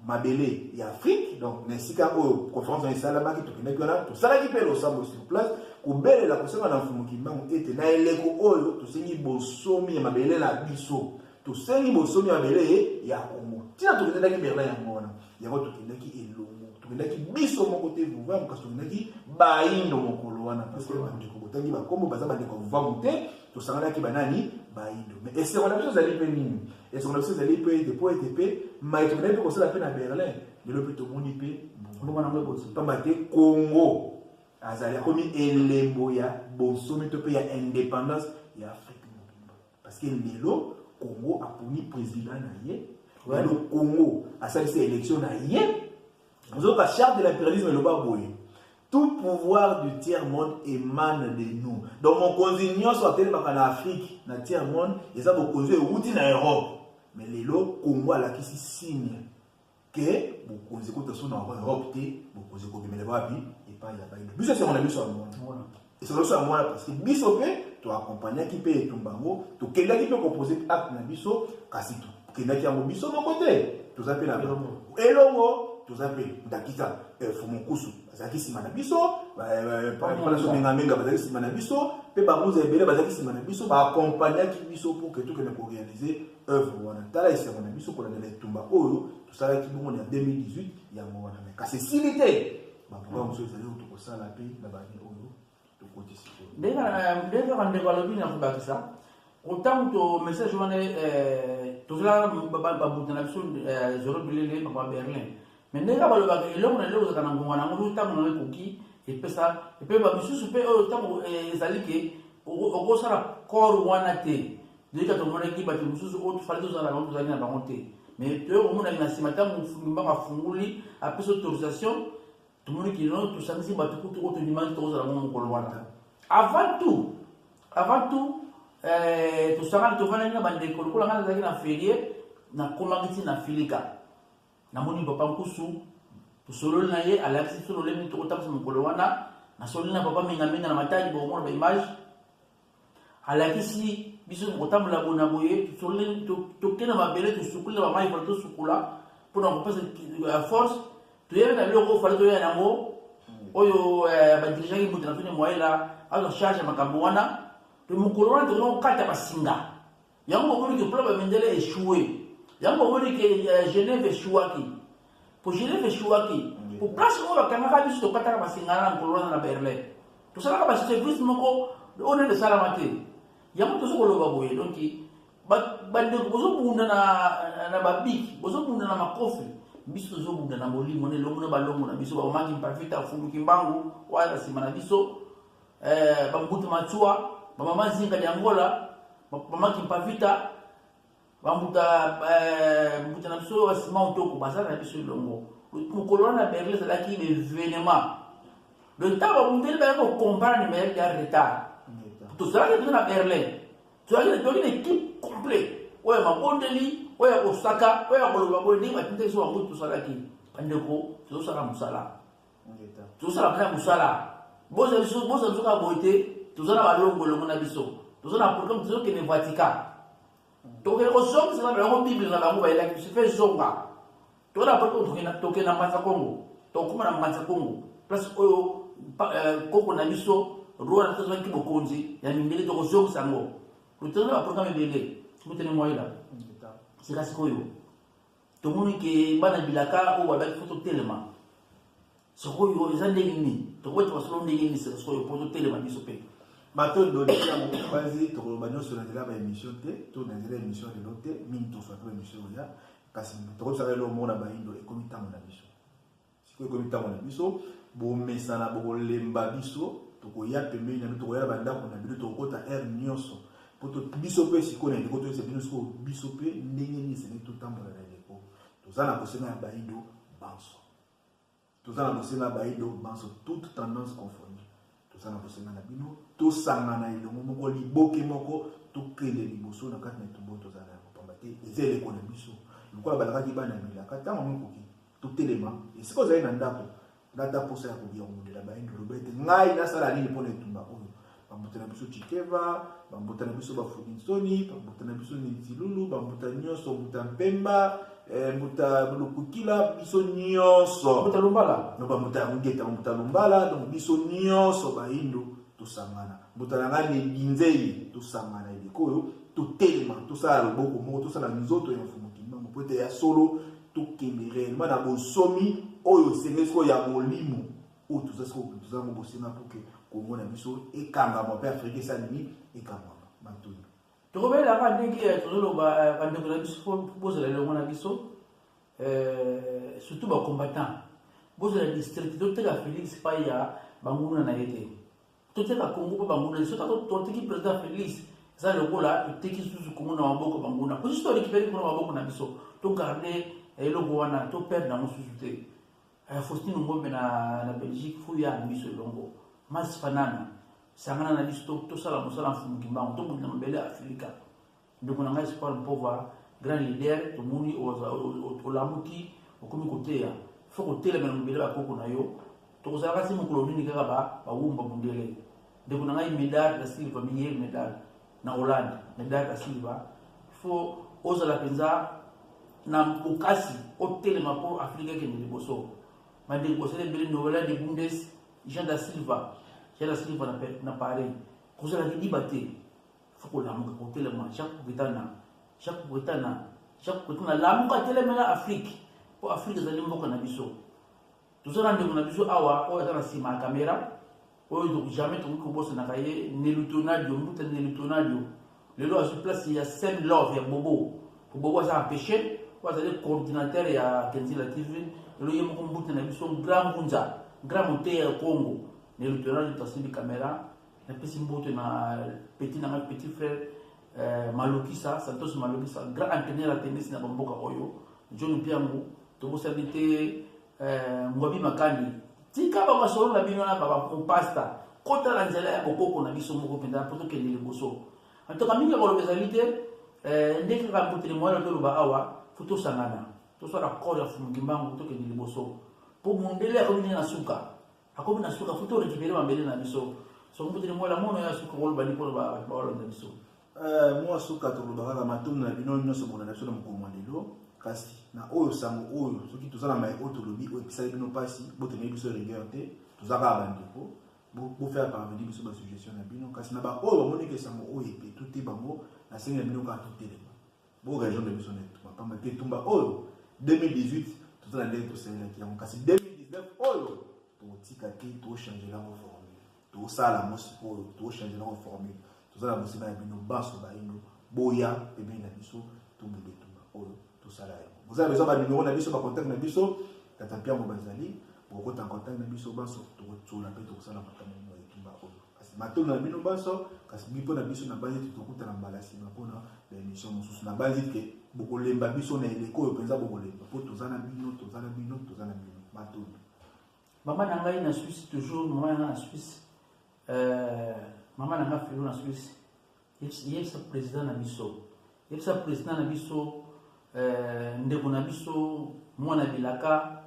mabele ya afrique donc na esika oyo conférence wana esalamaki tokendaki wana tosalaki mpe losambo sur place kobelela kosenga na mfumu kimbangu ete na eleko oyo tosengi bosomi ya mabele na biso tosengi bosomi ya mabele ya kongo ntina tokendaki berlin yango wana yango tokendaki elongo tokendaki biso moko te vovamu kasi tokendaki baindo mokolo wana parceke bandeko botangi bakombo baza bandeko ya vovamu te tosanganaki banani baindo mais esengo na biso ezali mpe nini esengo na biso ezali mpe ete mpo ete mpe mai tokendaki mpe kosala mpe na berlin lelo mpe tomoni mpe mbuma na yango eboti mpamba te congo azali akomi elembo ya bonsomi to mpe ya indépendance ya afrique mobimba parce que lelo congo aponi président na ye lelo congo asalisi élection na ye Nzoka charte de l'imperialisme eloba boye tout pouvoir du tiers monde emane de nous donc mokonzi nyonso atelemaka na afrique na tiers monde eza bokonzi euti na europe mais lelo congo alakisi signe ke bokonzi kuta so na europe te bokonzi kobimela wapi epai ya baino biso esengo na biso ya mona Esoloso yango wana parce que biso mpe toakompagnaki mpe etumba yango tokendaki mpe kopose acte na biso kasi tokendaki yango biso moko te toza mpe na elongo toza mpe ndakisa eh, fumukusu bazalaki nsima na biso palasomengaminga bazalaki nsima na biso mpe bangunza ebele bazalaki nsima na biso baakompagnaki biso mpo ke tokende korealize œuvre wana tala esengo na biso kolandela etumba oyo tosalaki bongo na 2018 yango wana kasi esili te bamboka mosusu ezali oyo tokosala mpe na bani oyo tokotisi te ndenge kaka ndeko alobi na kobakisa ntango to message wana eh, tozala babuta na biso eh, zoro bilele papa berlin mais ndenge kaka balobaka eloko na eloko ezalaka na ngonga na yango ntango nango ekoki epesa epe bamisusu mpe oyo ntango eh, ezali ke okosala corps wana te Leka tomonaki bato mosusu oyo tofali tozala bango tozalaki na bango te mais toye komonaki na nsima ntango mofundi mbango afunguli apesi autorisation tomoni kino tosangisi bato kutu oyo tondimaki tokozala bango mokolo wana avant tout avant tout eh, tosangani tofandaki na bandeko lokola ngai nazalaki na ferie nakomaki ntina na filika namoni papa nkusu tosololi na ye alakisi biso lolemi tokotambisa mokolo wana nasololi na papa mingaminga na matali bokomona baimage alakisi biso kotambola bona boye toke na mabele tosukoli na bamai fale tosukola mpona kopesa ya force toyebi na biloko oyo fale toyela yango oyo eh, badirigeaki moto na fine moyela azwa charge ya makambo wana mpe mokolo wana tokoki kokata basinga Yango omoni ke club ya mindele echoue. Yango omoni ke euh, Genève echouaki. Po Genève echouaki. Po place oyo bakangaka biso tokataka masengana na mokolo wana na Berlin. Tosalaka ba service moko oyo nani esalama te. Yango tozo koloba boye donc bandeko bozobunda na, na babiki bozobunda na makofi biso tozobunda na molimo na elongo na balongo na biso bamamaki mpavita afuluki mbangu wana na nsima na biso eh, bambutu matsua bamama zinga lya angola mama kimpavita bambuta eh, mbuta na biso basima otoko bazala na biso elongo mokolo wana berle ezalaki evenema le ntango babundeli bayaki kokomprane mayaki ya retard tozalaki mpenza na berlin tozalaki na ekipe complet oyo ya mabondeli oyo ya kosaka oyo ya koloba boye ndenge batindaki so bango tosalaki bandeko tozosala mosala tozosala mpena mosala boza biso boza biso kaka boye te toza na balongo elongo na biso toza na programme tozokende vatican tokende kozongisa na bango bible na bango bayelaki biso mpe zonga toza na programme tokende na mbanza kongo tokoma na mbanza kongo place oyo euh, koko na biso roi na tozwaki bokonzi ya mindele tokozongisa yango toza na baprogramme ebele motene moyela sika sikoyo tomoni ke bana bilaka oyo babaki fo totelema sikoyo eza ndenge nini tokoki tokosolo ndenge nini sikoyo mpo totelema biso mpe bato ebodeli yango bazi tokoloba nyonso na nzela ba émission te to na nzela émission lelo te mingi toswa mpe émission oya kasi tokosala eloko moko na baindo ekomi ntango na biso sikoyo ekomi ntango na biso bomesana bokolemba biso tokoya pembeni na bino tokoya na bandako na bino tokokota aire nyonso mpo biso mpe sikoyo na eleko toyesa bino sikoyo biso mpe ndenge nini esengeli totambola na eleko toza na bosenga ya baido banso toza na bosenga ya baido banso toute tendance confondue toza na bosenga na bino tosangana elongo moko liboke moko tokende liboso na kati na etumbo toza na yango pamba te eza eleko na biso lokola balakaki bana milaka ntango mikoki totelema esika ozali na ndako nata mposa ya kolia komundela bayini oloba ete ngai nasala nini mpo na etumba oyo bambuta na biso chikeva bambuta na biso bafudinsoni bambuta na biso ninzilulu bambuta nyonso mbuta mpemba Eh, mbuta lukukila biso nyonso mbuta lumbala noba mbuta ya mungeta mbuta lumbala donc biso nyonso bayindo tosangana mbuta na ngai nebinzeli tosangana eleko oyo totelema tosala loboko moko tosala nzoto ya mfumu kimbangu mpo ete ya solo tokende réellement na bonsomi oyo esengeli sikoyo ya molimo oyo toza sikoyo toza yango bosenga mpo ke kongo na biso ekangama mpe afrika esala nini ekangama matoni tokobelela kaka ndenge eh, tozoloba eh, bandeko na biso po bozala elongo na biso eh, surtout bacombattant bozala district toteka félix pai ya banguna na ye te toteka congo mpo banguna ye sotako toteki président félix eza lokola toteki susu congo na maboko banguna po susu torekipere kuna maboko na biso togarde eloko wana toperde yango susu te Eh, Faustino Ngombe na, na Belgique fo ya biso elongo Mars Fanana sangana na biso tosala mosala mfumu kimbangu tobundela mabele ya Afilika ndeko na ngai Espoir Mpova grand leader tomoni olamuki okomi koteya fo kotelemela mobele bakoko na yo tokozalaka se mokolo nini kaka bawumba mundele ndeko na ngai Medard da Silva Miguel Medard na Hollande na Dada Kasimba il faut ozala mpenza na bokasi otelema mpo Afrika ekende liboso bandeko bosala ebele novela de bundes Jean da Silva Jean da Silva na, na Paris kozala kidiba te faut kolamuka kotelema Jacques Kubetana Jacques Kubetana Jacques Kubetana lamuka telemela Afrique mpo Afrique ezali mboka na biso toza na ndeko na biso awa oyo aza na nsima ya kamera oyo donc jamais tokoki kobosanaka ye nelutonadio mbuta nelutonadio lelo azwi place ya same love ya bobo po bobo aza empêche oyo azali coordinateur ya kenzila tv lelo ye moko mbuta na biso grand mbunza grand moteya ya congo nelutonadio tasili kamera napesi mbote na petit na ngai petit frère euh, malokisa santos malokisa grand entraîneur ya tenisi na bamboka oyo john mpiangu tobosani te euh, ngwabi makani tika bamasolo na bino na babampasta kota na nzela ya bokoko na biso moko mpenza mpo tokende liboso antoka mingi ya koloba ezali te euh, ndenge kaka mbotele moyana toloba awa fo tosangana tosala kore ya fumukimbangu tokende liboso mpo mondele akomi nde na suka akomi na suka futi orekipere mabele na biso soki mputi lingwela mono ya suka kolobani mpo baolonda biso eh, mwa suka tolobaka na matondo na bino nyonso bolanda biso na mokolo mwa lelo kasi na oyo sango oyo soki toza na mai oyo tolobi oyo epesaki bino mpasi botemeli biso rigueur te toza kaka bandeko bofere parvenir biso basuggestion na bino kasi na baoyo bamoniki esango oyo epetu te bango nasengi na bino kaka totelema Bo raison de biso na etumba pamba te etumba oyo 2018 toza na ndenge tosengelaki yango kasi 2019 oyo tokotika te tochange yango formule tosala yango sikoyo tochange yango formule toza na mosima ya bino banso bayindo boya pembeni na biso tobunda etumba oyo tosala yango boza besoin banimero na biso bacontact na biso tata mpiango bazali bokokota contact na biso banso tokotsola mpe tokosala makambo ya etumba oyo kasi matondo na bino banso kasi mpo na biso nabanzi ete tokutana mbala nsima mpo na baemission mosusu nabanzi ete bokolemba biso na eleko oyo mpenza bokolemba mpo toza na bino toza na bino toza na bino matondo mama na ngai na swisse toujours mama na ngai na swisse euh, mama na ngai filo na swisse yebisa president na biso yebisa president na biso euh, ndeko na biso mwana bilaka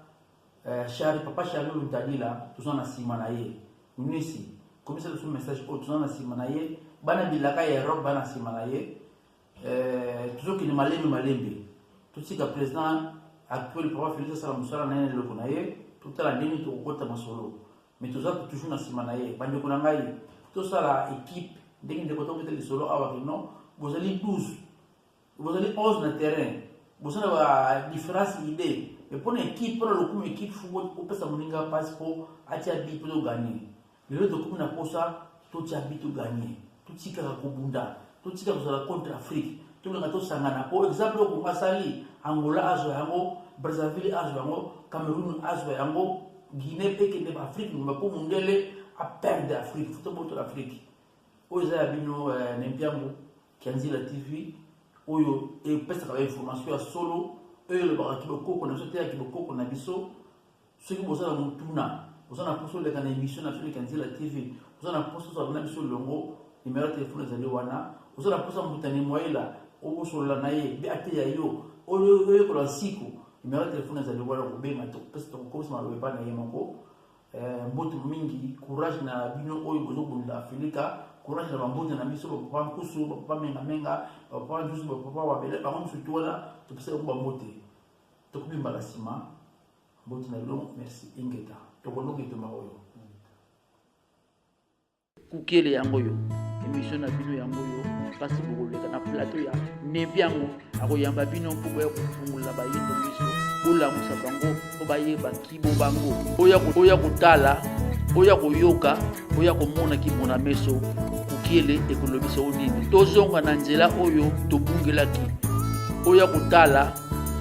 euh, chari papa chari oyo ntadila toza na nsima na ye nisi komisa biso message oyo toza na nsima na ye bana bilaka ya europe bana nsima na ye euh, tozokende malembe malembe totika president actuel papa felix asala mosala na ye na eloko na ye totala ndenge tokokota masolo mais toza toujours na sima na ye bandeko na ngai tosala équipe ndenge ndeko tobeta lisolo awa ke non bozali 12 bozali 11 na terrain bozala ba différence idée mais mpo na équipe mpo na lokumu équipe fo opesa moninga mpasi mpo atia bi mpo toganye lelo tokomi na mposa totia bi to gagne totikaka kobunda totika kozala contre afrique tolinga tosangana po exemple oyo kongo asali angola azwa yango brazzaville azwa yango cameroun azwa yango guinée mpe ekende ba afrique mobimba mpo mondele aperde afrique fo tobotola afrique oyo eza ya bino eh, na mpiango kianzila tv oyo epesaka bainformation ya solo oyo elobaka kibokoko na biso te ya kibokoko na biso soki boza na motuna oza na mposa oleka na émission na felika nzela tv oza na mposa ozala na biso longo nimero ya telefone ezali wana oza na mposa motane moyela obosolola na ye mpe ateya yo oyekola nsiko nimero ya telefone ezali wana kobenga topesa tokokobisa maloba epai na ye moko eh, mbote mingi courage na bino oyo bozobundela felika courage na bambote na biso bapapa nkusu bapapa mengamenga bapapa njusu bapapa wabele bango mosutu wana topesa yango bambote tokomi mbala nsima Mbote na bino, merci Ingeta. Tokolonga etoma oyo. Kukele yango yo. Emission na bino yango yo. Kasi bokoleka na plateau ya nebi yango akoyamba bino mpo boya kofungola bayindo miso bolamusa bango mpo bayeba kibo bango oya kotala oya koyoka oya komona kimona meso kukiele ekolobisa o nini tozonga na nzela oyo tobungelaki oya kotala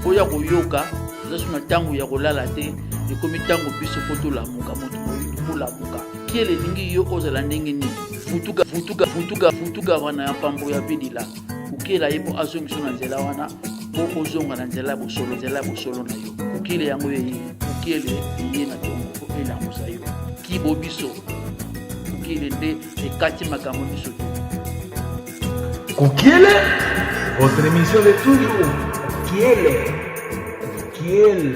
oya koyoka nasu na ntango ya kolala te ekomi ntango biso mpo tolamuka moto moyindo molamuka kiele elingi yo ozala ndenge nini futuka futuka futuka futuka wana ya mpambo ya bidila kokela ye mpo azongisa na nzela wana mpo ozonga na nzela ya bosolo nzela ya bosolo na yo kokele yango eye kokele eye na tongo mpo elamusa yo kibo biso kokele nde ekati makambo biso te Kukiele, votre émission de toujours. Kukiele, Kukiele.